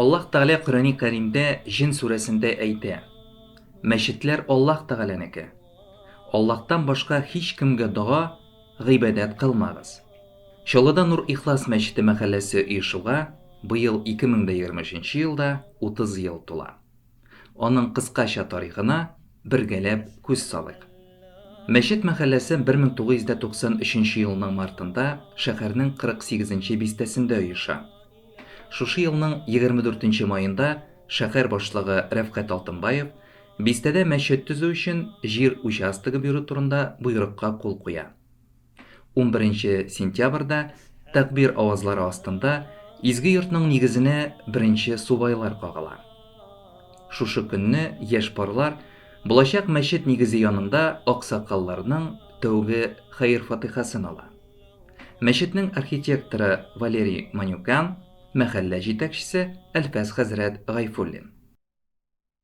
Аллаһ Тәгалә Коръәни Кәримдә Җен сүрәсендә әйтә, Мәчетләр Аллаһ Тәгаләнеке. Аллаһтан башка һичкемгә дога, гыйбадәт кылмагыз. Чаллыда Нур-Ихлас мәчете мәхәлләсе оешуга быел 2023 елда 30 ел тула. Аның кыскача тарихына бергәләп күз салыйк. Мәчет мәхәлләсе 1993 елның мартында шәһәрнең 48 нче бистәсендә оеша. Шушы елның 24 маенда шәһәр башлыгы Рәфкать Алтынбаев бистәдә мәчет төзү өчен җир участогы бирү турында боерыкка кул куя. 11 сентябрьдә тәкбир авазлары астында изге йортның нигезенә беренче субайлар кагыла. Шушы көнне яшь парлар булачак мәчет нигезе янында аксакалларның тәүге хәер-фатыйхасын ала. Мәчетнең архитекторы Валерий Манюкян, мәхәллә җитәкчесе Әлфәс хәзрәт Гайфуллин.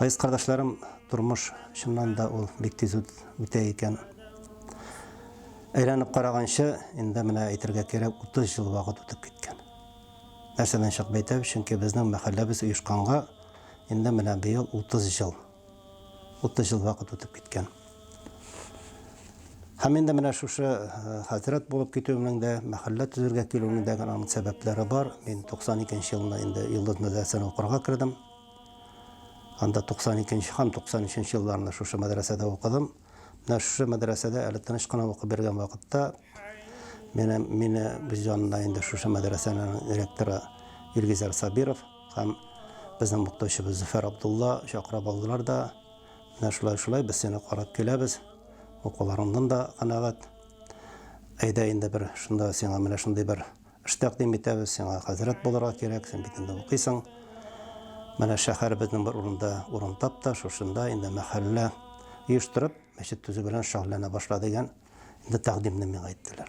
Айс кардәшләрем, тормыш чыннан да ул бик тиз үтә икән. Әйләнеп караганчы, инде менә әйтергә кирәк 30 ел вакыт үтеп киткән. Нәрсәдән чыгып әйтәм, чөнки безнең мәхәлләбез оешканга инде менә быел 30 ел Утыз ел вакыт үтеп киткән. Һәм инде менә шушы э, хәзрәт булып китүемнең дә, мәхәллә төзергә килүемнең дә аның сәбәпләре бар. Мин 92 нче елында инде Йолдыз мәдрәсәсенә укырга кердем. Анда 92 нче һәм 93 нче елларында шушы мәдрәсәдә укыдым. Менә шушы мәдрәсәдә әле тыныч кына укып бергән вакытта менә мине без янына инде шушы мәдрәсәнең ректоры Илгизәр Сабиров һәм безнең мукташыбыз Зөфәр Абдулла чакырып алдылар да менә шулай шулай без сине карап киләбез укуларыңнан да канәгать әйдә инде бер шунда сиңа менә шундый бер Эш тәкъдим итәбез, сиңа хәзрәт булырга кирәк, син бит инде укыйсың. Менә шәһәребезнең бер урында урын тап та, шушында инде мәхәллә оештырып, мәчет төзү белән шөгыльләнә башла дигән инде тәкъдимне миңа әйттеләр.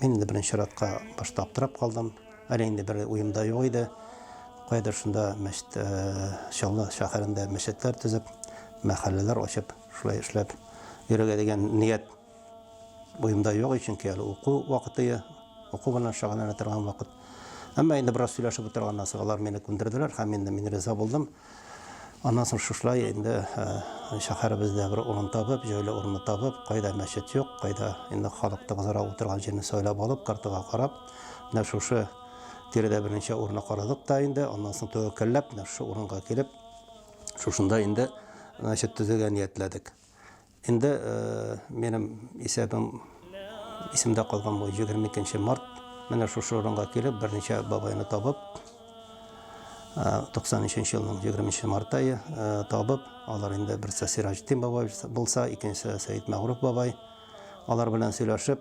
Мин инде беренче чиратка башта аптырап калдым. Әле инде бер уемда юк иде. Кайдыр шунда мәчет э, Чаллы шәһәрендә мәчетләр төзеп, мәхәлләләр ачып, шулай эшләп йөрергә дигән ният Буемда юк, чөнки әле уку вакыты, уку белән шөгыльләнә торган вакыт. Әмма инде бераз сөйләшеп утырганнан соң алар мине күндерделәр һәм инде мин риза булдым. Аннан соң шушылай инде шәһәребездә бер урын табып, җайлы урынны табып, кайда мәчет юк, кайда инде халык тыгызрак утырган җирне сайлап алып, картага карап, менә шушы тирәдә берничә урынны карадык та инде, аннан соң тәвәккәлләп, менә шушы урынга килеп, шушында инде мәчет төзергә ниятләдек. Инде минем исәбем исемдә калган бу 22 март. Менә шушы урынга килеп, берничә бабайны табып, 93 елның 23 март айы табып, алар инде берсе Сираҗетдин бабай булса, икенчесе Сәйд Мәгруф бабай. Алар белән сөйләшеп,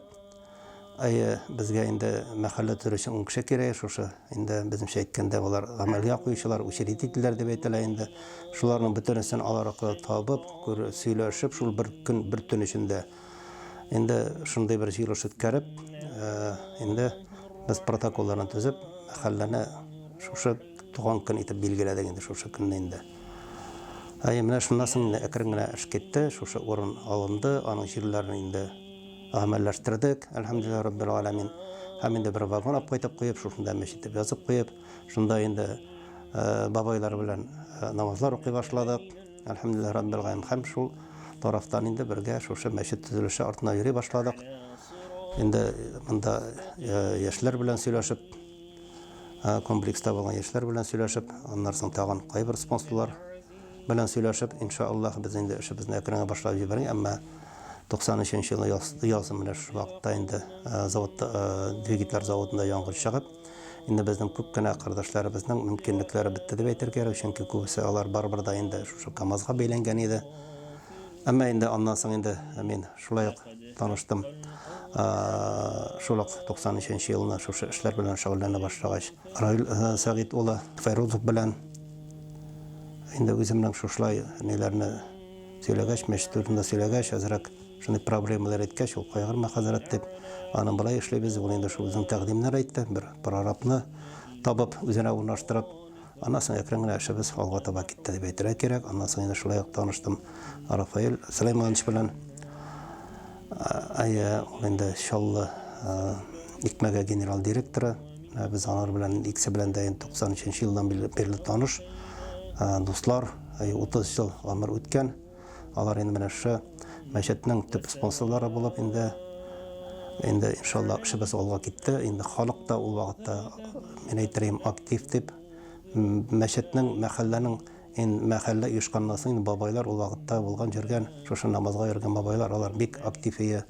Әйе, безгә инде мәхәллә төре өчен ун кеше кирәк, шушы инде безнеңчә әйткәндә алар гамәлгә куючылар, учредительләр дип әйтелә инде. Шуларның бөтенесен алар аркылы табып, күр, сөйләшеп, шул бер көн, бер төн эчендә инде шундый бер җыелыш үткәреп, инде без протоколларын төзеп, мәхәлләне шушы туган көн итеп билгеләдек инде шушы көнне инде. Әйе, менә шуннан соң инде әкрен генә эш китте, шушы урын алынды, аның җирләрен инде Гамәлләштердек, әлхәмдүлилләһи раббил галәмин. Һәм инде бер вагон апкайтып куеп, шушында мәчет дип язып куеп, шунда инде бабайлар белән намазлар укый башладык. Әлхәмдүлилләһи раббил галәмин. Һәм шул тарафтан инде бергә шушы мәчет төзелеше артына йөри башладык. Инде монда яшьләр белән сөйләшеп, комплекста булган яшьләр белән сөйләшеп, аннары соң тагын кайбер спонсорлар белән сөйләшеп, инша Аллаһ, без инде эшебезне әкренге башлап җибәргән, әмма 93 елы яз, яз менә шушы вакытта инде э, завод э, двигатель заводында янгын чыгып, инде безнең күп кенә кардәшләребезнең мөмкинлекләре бетте дип әйтергә кирәк, чөнки күбесе алар барыбер да инде шушы КАМАЗга бәйләнгән иде. Әмма инде аннан соң инде мин шулай ук таныштым. Шул ук 93 елына шушы эшләр белән шөгыльләнә башлагач, Раил Сәгыйть улы Фәйрузов белән Инде үземнең шушылай ниләрне сөйләгәч, мәчет турында сөйләгәч, әзрәк шундый проблемалар әйткәч, ул кайгырма, хәзрәт, дип, аны болай эшлибез, ул инде шул үзенең тәкъдимнәр әйтте, бер прорабны табып, үзенә урнаштырып, аннан соң әкрен генә эшебез алга таба китте дип әйтергә кирәк. Аннан соң инде шулай ук таныштым Рафаэль Сөләйманович белән. Әйе, ул инде Чаллы икмәге генерал директоры. Без алар белән икесе белән дә 93 елдан бирле таныш дуслар. 30 ел гомер үткән. Алар инде менә шушы мәчетнең төп спонсорлары булып инде инде иншалла эшебез алга китте. Инде халык та ул вакытта мин әйтер идем актив дип мәчетнең мәхәлләнең Ин мәхәллә оешканнан соң, бабайлар ул вакытта булган, йөргән, шушы намазга йөргән бабайлар, алар бик актив ие.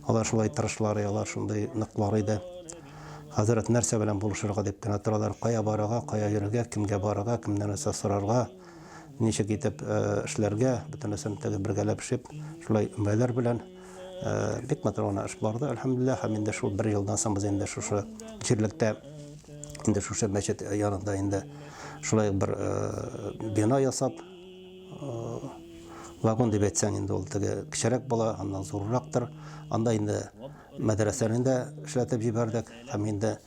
Алар шулай тырышлар ие, алар шундый ныклар иде. Хәзрәт нәрсә белән булышырга дип кенә торалар, кая барырга, кая йөрергә, кемгә барырга, кемнән нәрсә сорарга, ничек итеп эшләргә, бөтенесен теге бергәләп шип, шулай өмәләр белән бик матур гына эш барды, әлхәмдүлилләһ. Һәм инде шул бер елдан соң без инде шушы җирлектә. инде шушы мәчет янында инде шулай бер э, бина ясап э, вагон дип әйтсәң инде ул теге кечерәк була аннан зуррактыр анда инде мәдрәсәне дә эшләтеп җибәрдек һәм инде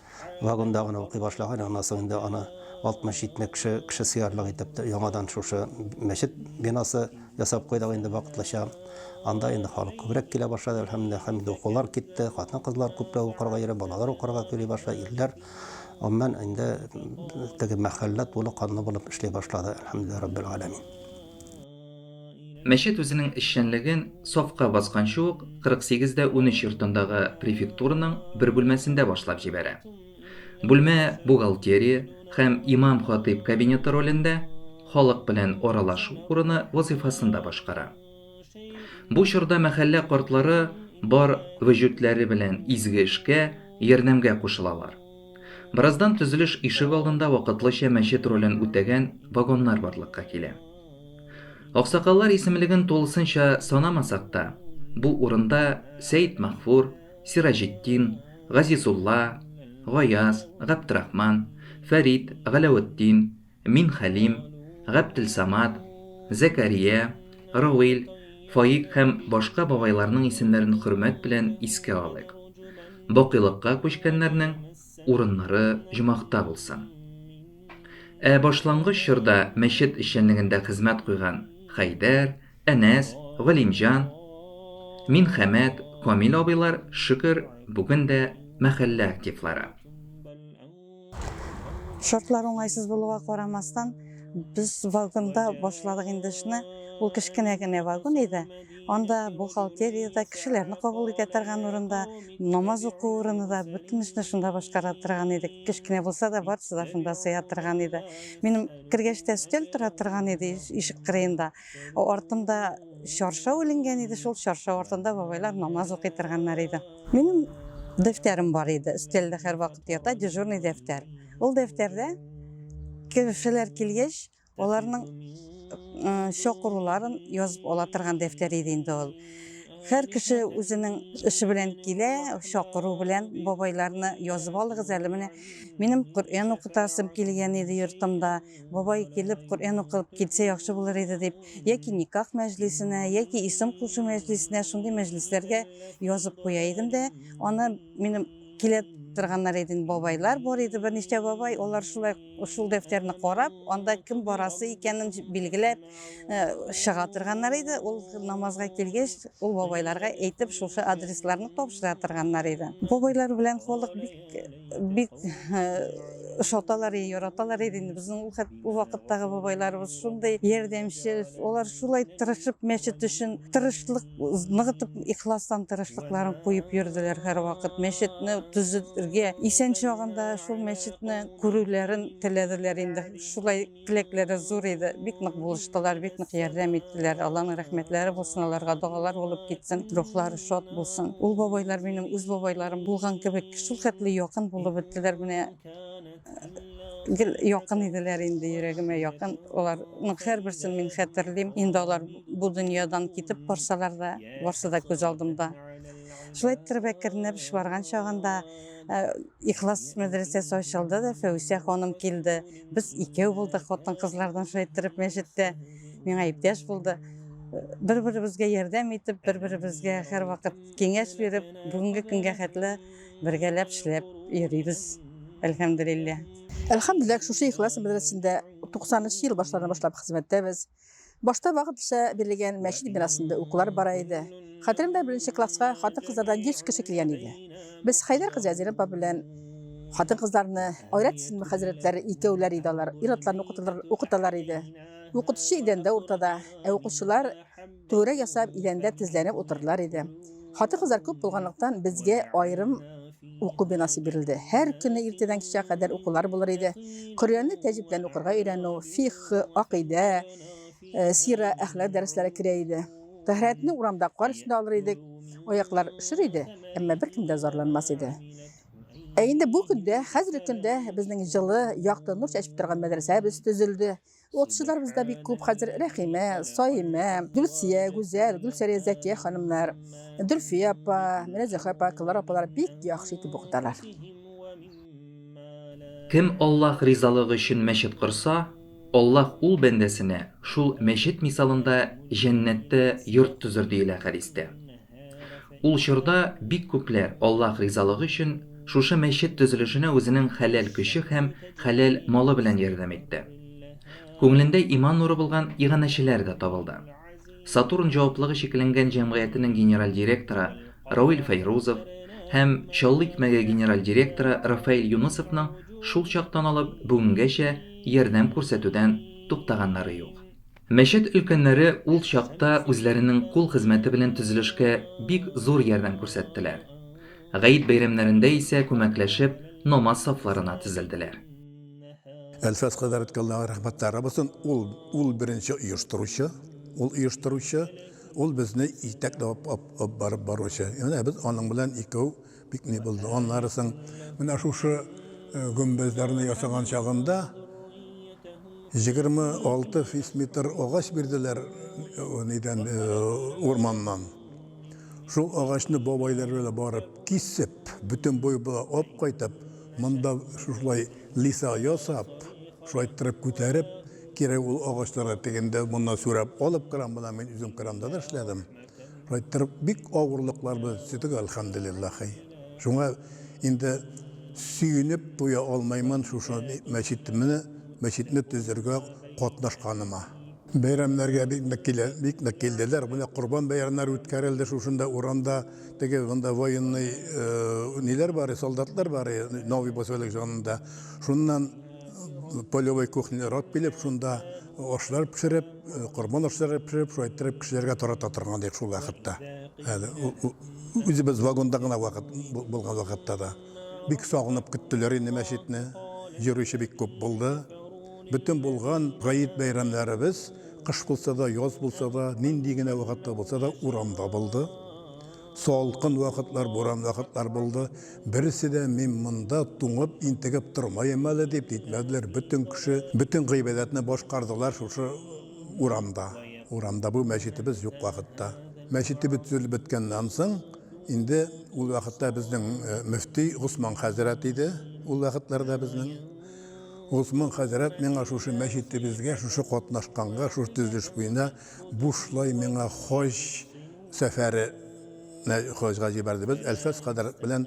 вагонда гына укый башлаган аннан соң инде аны алтмыш җитмеш кеше кеше сыярлык итеп яңадан шушы мәчет бинасы ясап куйдык инде вакытлыча. Анда инде халык күбрәк килә башлады, әлхәмдүлилләһ, һәм инде укулар китте, хатын-кызлар күпләп укырга йөри, балалар укырга йөри башлады, ирләр, гомумән, инде теге мәхәллә тулы канлы булып эшли башлады, әлхәмдүлилләһ раббил галәмин. Мәчет үзенең эшчәнлеген сафка басканчы ук 48 дә унөч йортындагы префектураның бер бүлмәсендә башлап җибәрә. Бүлмә бухгалтерия һәм имам-хатыйб кабинеты ролендә, халык белән аралашу урыны вазыйфасын да башкара. Бу чорда мәхәллә картлары бар вөҗүдләре белән изге эшкә, ярдәмгә кушылалар. Бераздан төзелеш ишегалдында вакытлыча мәчет ролен үтәгән вагоннар барлыкка килә. Аксакаллар исемлеген тулысынча санамасак та, бу урында Сәетмәгъфур, Сираҗетдин, Газизулла, Гаяз, Габдрахман, Фәрит, Галәветдин, Минхәлим, Габделсамат, Зәкәрия, Рауил, Фаик һәм башка бабайларның исемнәрен хөрмәт белән искә алыйк. Бакыйлыкка күчкәннәрнең урыннары җомахта булсын. Ә башлангыч чорда мәчет эшчәнлегендә хезмәт куйган Хәйдәр, Әнәс, Галимҗан, Минхәмәт, Камил абыйлар, шөкер, бүген дә мәхәллә активлары. Шартлар уңайсыз булуга карамастан, без вагонда башладык инде эшне. Ул кечкенә генә вагон иде. Анда бухгалтерия дә, кешеләрне кабул итә торган урын да, намаз уку урыны да, бөтен эшне шунда башкара торган идек. Кечкенә булса да, барысы да шунда сыя торган иде. Минем кергәч тә өстәл тора торган иде ишек кырыенда. Артында чаршау иленгән иде, шул чаршау артында бабайлар намаз укый торганнар иде. Минем дәфтәрем бар иде, өстәлдә һәрвакыт ята дежурный дәфтәр. Ул дәфтәрдә кешеләр килгәч, аларның чакыруларын язып ала торган дәфтәр иде инде ул. Һәр кеше үзенең эше белән килә, чакыру белән бабайларны язып алыгыз әле менә. Минем Коръән укытасым килгән иде йортымда. Бабай килеп, Коръән укып китсә яхшы булыр иде дип, яки никах мәҗлисенә, яки исем кушу мәҗлисенә, шундый мәҗлисләргә язып куя идем дә, аны минем килә торганнар иде инде бабайлар бар иде, берничә бабай, алар шулай шул дәфтәрне карап, анда кем барасы икәнен билгеләп чыга торганнар иде. Ул намазга килгәч, ул бабайларга әйтеп, шушы адресларны тапшыра торганнар иде. Бабайлар белән халык бик бик ошаталар, яраталар иде инде. Безнең ул хәт ул вакыттагы бабайларыбыз шундый ярдәмче. Алар шулай тырышып мәчет өчен тырышлык ныгытып, ихластан тырышлыкларын куеп йөрделәр һәрвакыт. Мәчетне төзергә, исән чагында шул мәчетне күрүләрен теләделәр инде. Шулай Теләкләре зур иде, бик нык булыштылар, бик нык ярдәм иттеләр. Алланың рәхмәтләре булсын, аларга догалар булып китсен, рухлары шат булсын. Ул бабайлар минем үз бабайларым булган кебек, шул хәтле якын булып беттеләр, менә гел якын иделәр инде, йөрәгемә якын. Аларның һәрберсен мин хәтерлим. Инде алар бу дөньядан китеп барсалар да, барсы да күз алдымда. Шулай иттереп әкренләп барган чагында Ихлас мәдрәсәсе ачылды да, Фәүсия ханым килде. Без икәү булдык хатын-кызлардан шулай иттереп мәчеттә. Миңа иптәш булды. Бер-беребезгә ярдәм итеп, бер-беребезгә һәрвакыт киңәш биреп, бүгенге көнгә хәтле бергәләп эшләп йөрибез. Әлхәмдулилләһ. Әлхәмдулилләһ, шушы Ихлас мәдрәсәсендә 93 ел башларына башлап хезмәттәбез. Башта вакытлыча бирелгән мәчет бинасында укулар бара иде. Хәтеремдә беренче класска хатын-кызлардан 100 кеше килгән иде. Без Хәйдәр кызы Әзирә апа белән хатын-кызларны, Айрат исемле хәзрәтләр икәүләр иде алар, ир-атларны укыталар, укыталар иде. Укытучы идәндә уртада, ә укучылар түгәрәк ясап идәндә тезләнеп утырдылар иде. Хатын-кызлар күп булганлыктан, безгә аерым Уку бинасы бирелде. Һәр көне иртәдән кичә кадәр укулар булыр иде. Коръәнне тәҗвид белән укырга өйрәнү, фикһ, акыйдә, э, сира, әхлак дәресләре керә иде. Тәһарәтне урамда кар өстендә алыр идек. Аяклар өшер иде, әмма беркем дә зарланмас иде. Ә инде бу көндә, хәзерге көндә безнең җылы, якты нур чәчеп торган мәдрәсәбез төзелде. Спортчыларыбыз да бик күп хәзер. Рәхимә, Саимә, Гөлсия, Гүзәл, Гөлсәрия, Зәкия ханымнар, Дөлфия апа, менә Зөһрә апа, Клара апалар бик яхшы итеп укыталар. Кем Аллаһ ризалыгы өчен мәчет корса, Аллаһ ул бәндәсенә шул мәчет мисалында җәннәттә йорт төзер, диелә хәдистә. Ул чорда бик күпләр Аллаһ ризалыгы өчен шушы мәчет төзелешенә үзенең хәләл көче һәм хәләл малы белән ярдәм итте. Күңелендә иман нуры булган иганәчеләр дә табылды. Сатурн җаваплыгы чикләнгән җәмгыятенең генераль директоры Рауил Фәйрузов һәм Чаллы икмәге генераль директоры Рафаэль Юнысовның шул чактан алып бүгенгәчә ярдәм күрсәтүдән туктаганнары юк. Мәчет өлкәннәре ул чакта үзләренең кул хезмәте белән төзелешкә бик зур ярдәм күрсәттеләр. Гает бәйрәмнәрендә исә күмәкләшеп намаз сафларына тезелделәр. Әлфәс хәзрәткә Аллаһы рәхмәтләре булсын, ул, ул беренче оештыручы, ул оештыручы, ул безне итәкләп алып барып баручы. Менә без аның белән икәү. Бик ни булды. Аннары соң менә шушы гөмбәзләрне ясаган чагында 26 фисметр агач бирделәр нидән урманнан. Шул агачны бабайлар белән барып кисеп, бөтен буй була ап кайтып, монда шушылай лиса ясап, шулай торып күтәреп, кире ул агачларны тегендә моннан сүрәп алып кран белән мин үзем кранда да эшләдем. Проекттар бик авырлыклар без төтек, әлхәмдулиллахи. Шуңа инде сөенеп туя алмаймын шушы мәчетемне, мәчетне төзергә катнашканыма. Бәйрәмнәргә бик нык килә, бик нык килделәр. Менә Корбан бәйрәмнәре үткәрелде шушында урамда. Теге монда военный ниләр бар, солдатлар бар, новый поселок җанында. Шуннан полевой кухнялар алып килеп, шунда ашлар пешереп, Корбан ашлары пешереп, шулай иттереп кешеләргә тарата торган идек шул вакытта. Әле үзебез вагонда гына вакыт булган вакытта да. Бик сагынып көттеләр инде мәчетне. Йөрүче бик күп булды. Бөтен булган гает бәйрәмнәребез, кыш булса да, яз булса да, нинди генә вакытта булса да, урамда булды. Салкын вакытлар, буран вакытлар булды. Берсе дә мин монда туңып, интегеп тормаем әле дип китмәделәр. Бөтен кеше, бөтен гыйбадәтне башкардылар шушы урамда. Урамда бу мәчетебез юк вакытта. Мәчетебез төзелеп беткәннән соң, инде ул вакытта безнең э, мөфти Госман хәзрәт иде. Ул вакытларда безнең Госман хәзрәт миңа шушы мәчетебезгә, шушы катнашканга, шушы төзелеш буена бушлай миңа хаҗ Сәфәре не хаҗга җибәрде. Без Әлфәс хәзрәт белән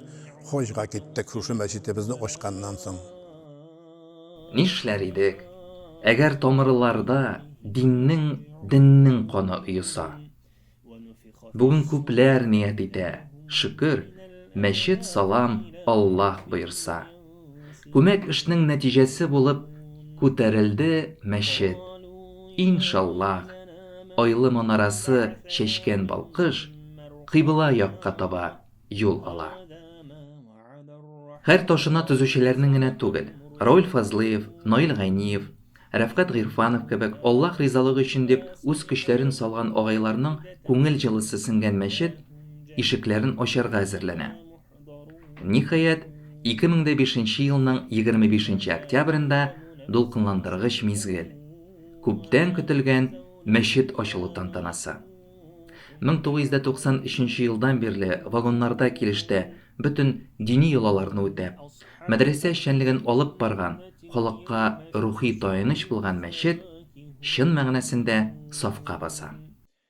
хаҗга киттек шушы мәчетебезне ачканнан соң. Нишләр идек, әгәр тамырларда диннең, деннең каны оеса? Бүген күпләр ният итә, шөкер, мәчет салам, Аллаһ боерса. Күмәк эшнең нәтиҗәсе булып Күтәрелде мәчет. Ин шаллаһ! Айлы манарасы чәчкән балкыш кыйбла якка таба юл ала. Һәр ташына төзүчеләрнең генә түгел, Рауль Фазлыев, Наил Гайниев, Рәфкать Гыйрфанов кебек Аллаһ ризалыгы өчен дип үз көчләрен салган агайларның күңел җылысы сеңгән мәчет ишекләрен ачарга әзерләнә. Ниһаять, 2005 елның 25 октябрендә дулкынландыргыч мизгел. Күптән көтелгән мәчет ачылу тантанасы. 1993 елдан бирле вагоннарда килештә бөтен дини йолаларны үтәп, мәдрәсә эшчәнлеген алып барган, халыкка рухи таяныч булган мәчет чын мәгънәсендә сафка баса.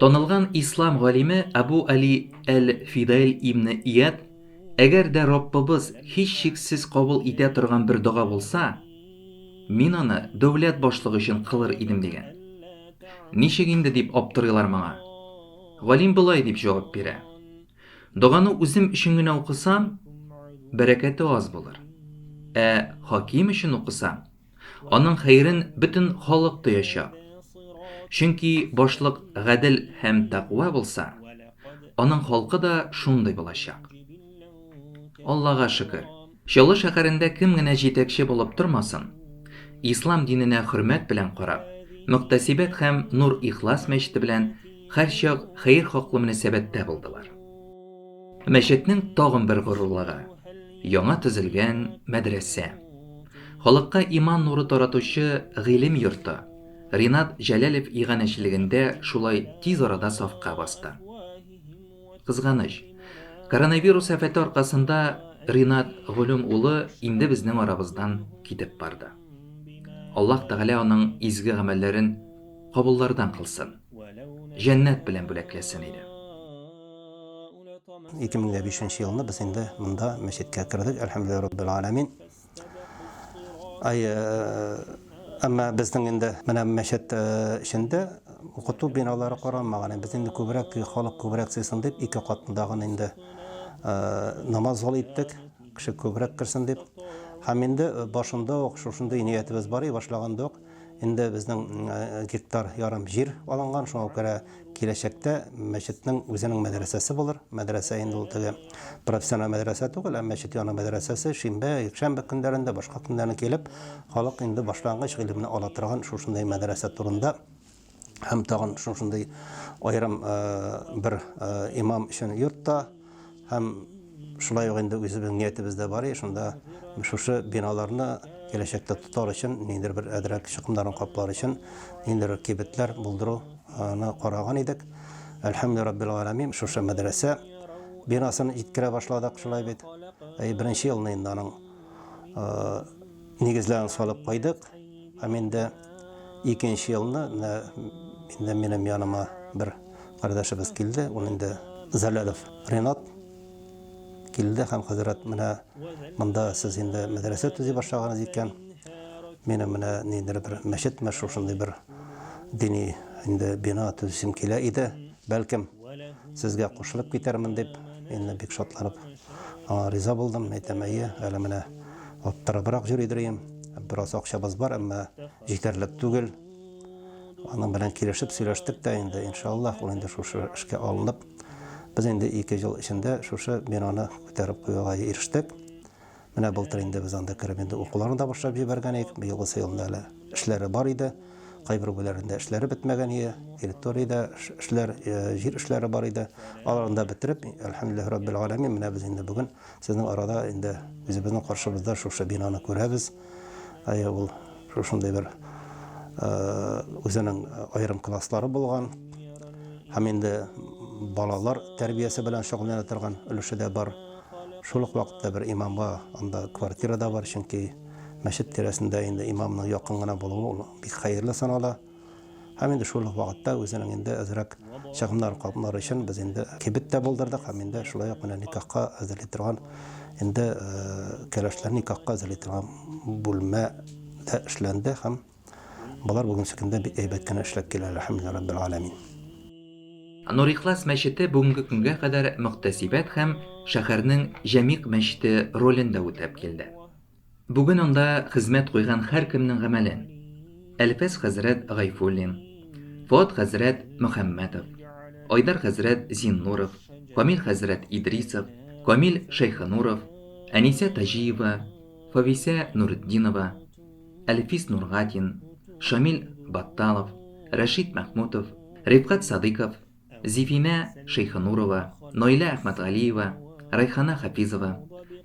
Танылган ислам галиме Абу Али әл-Фидаил ибн Ияд, Әгәр дә Раббыбыз һичшиксез кабул итә торган бер дога булса, мин аны дәүләт башлыгы өчен кылыр идем, дигән. Ничек инде, дип аптырыйлар моңа. Галим болай дип җавап бирә, Доганы үзем өчен генә укысам, бәрәкәте аз булыр, ә хаким өчен укысам, Аның хәерен бөтен халык тоячак. Чөнки башлык гадел һәм тәкъва булса, аның халкы да шундый булачак. Аллага шөкер, Чаллы шәһәрендә кем генә җитәкче булып тормасын, ислам диненә хөрмәт белән карап, Мөхтәсибәт һәм Нур-Ихлас мәчете белән һәрчак хәер хаклы мөнәсәбәттә булдылар. Мәчетнең тагын бер горурлыгы, Яңа төзелгән мәдрәсә. Халыкка иман нуры таратучы гыйлем йорты Ринат Җәләлев иганәчелегендә шулай тиз арада сафка басты. Кызганыч, коронавирус афәте аркасында Ринат Голем улы инде безнең арабыздан китеп барды. Аллаһ Тәгалә аның изге гамәлләрен кабуллардан кылсын, җәннәт белән бүләкләсен иде. 2005 елны без инде монда мәчеткә кердек, әлхәмдүлилләһи раббил аләмин. Ай, әмма безнең инде менә мәчет эчендә укыту биналары каралмаган. Без инде күбрәк халык күбрәк сыйсын дип, ике катлыдагын инде намаз залы иттек, кеше күбрәк керсен дип. Һәм инде башында ук шушындый ниятебез бар и башлаганда ук, Инде безнең гектар ярым җир алынган, шуңа күрә киләчәктә мәчетнең үзенең мәдрәсәсе булыр. Мәдрәсә инде ул теге профессиональ мәдрәсә түгел, ә мәчет яны мәдрәсәсе шимбә, якшәмбе көннәрендә, башка көннәрне килеп, халык инде башлангыч гыйлемне ала торган шушындый мәдрәсә турында һәм тагын шушындый аерым бер имам өчен йортта һәм шулай ук инде үзебезнең ниятебез дә бар шунда шушы биналарны киләчәктә тотар өчен ниндидер бер әдрәк чыкымнарын каплар өчен ниндидер кибетләр булдыруны караган идек әлхәмдү раббил галәмин шушы мәдрәсә бинасын җиткерә башладык шулай бит беренче елны инде аның нигезләрен салып куйдык. Һәм инде икенче елны инде минем яныма бер кардәшебез килде, ул инде Залялов Ренат килде һәм хәзрәт менә монда сез инде мәдрәсә төзи башлаганыз икән. Мин менә ниндер бер мәчетме шушындый бер дини инде бина төзисем килә иде. Бәлкем сезгә кушылып китәрмен дип, инде бик шатланып Аңа риза булдым, әйтәм, әйе, әле менә аптырабрак йөри дөрим. Бераз акчабыз бар, әмма җитәрлек түгел. Аның белән килешеп сөйләштек тә инде, иншаллах, ул инде шушы эшкә алынып, без инде ике ел эчендә шушы бинаны күтәреп куюга ирештек. Менә былтыр инде без анда кереп инде укуларын да башлап җибәргән идек. Быелгысы елны әле эшләре бар иде. Кайбер бүләрендә эшләре бетмәгән иде, территориядә эшләр, җир эшләре бар иде. Аларны да бетереп, әлхәмдүлилләһи раббил галәмин, менә без инде бүген сезнең арада инде үзебезнең каршыбызда шушы бинаны күрәбез. Әйе, ул шушындый бер үзенең аерым класслары булган һәм инде балалар тәрбиясе белән шөгыльләнә торган өлеше дә бар. Шул ук вакытта бер имамга анда квартира да бар, чөнки Мәчет тирәсендә инде имамның якын гына булуы ул бик хәерле санала. Һәм инде шул вакытта үзенең инде әзрәк чыгымнар капмары өчен без инде кибет тә булдырдык һәм инде шулай ук менә никахка әзерли торган инде э, кәләшләр никахка әзерли торган бүлмә дә эшләнде һәм Болар бүгенче көндә бик әйбәт кенә эшләп килә, әләхәмдүлилләһ раббил галәмин. Нур-Ихлас мәчете бүгенге көнгә кадәр мөхтәсибәт һәм шәһәрнең җәмигъ мәчете ролен дә үтәп килде. Бүген анда хезмәт куйган һәркемнең гамәлен, Әлфәс хәзрәт Гайфуллин, Фоат хәзрәт Мөхәммәтов, Айдар хәзрәт Зиннуров, Камил хәзрәт Идрисов, Камил Шәйхенуров, Әнисә Таҗиева, Фависә Нуретдинова, Әлфис Нургатин, Шамил Батталов, Рәшит Мәхмүтов, Рифкать Садыйков, Зифинә Шәйхенурова, Наилә Әхмәтгалиева, Рәйхана Хафизова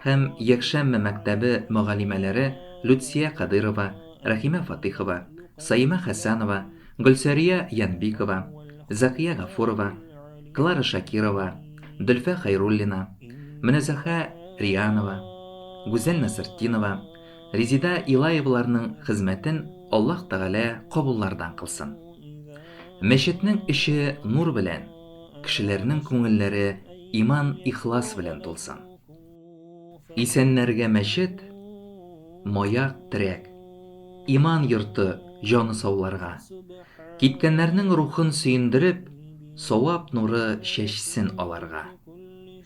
һәм Якшәммә мәктәбе мөгаллимәләре Люция Кадыйрова, Рәхимә Фатыйхова, Саимә Хәсәнова, Гөлсәрия Янбикова, Зәкия Гафурова, Клара Шакирова, Дөлфә Хәйруллина, Мөнәзәхә Рианова, Гүзәл Насыртдинова, Резеда Илаеваларның хезмәтен Аллаһ Тәгалә кабуллардан кылсын. Мәчетнең эче нур белән, кешеләрнең күңелләре иман, ихлас белән тулсын. Исәннәргә мәчет, маяк, терәк, иман йорты, җаны сауларга, киткәннәрнең рухын сөендереп, савап нуры чәчсен аларга.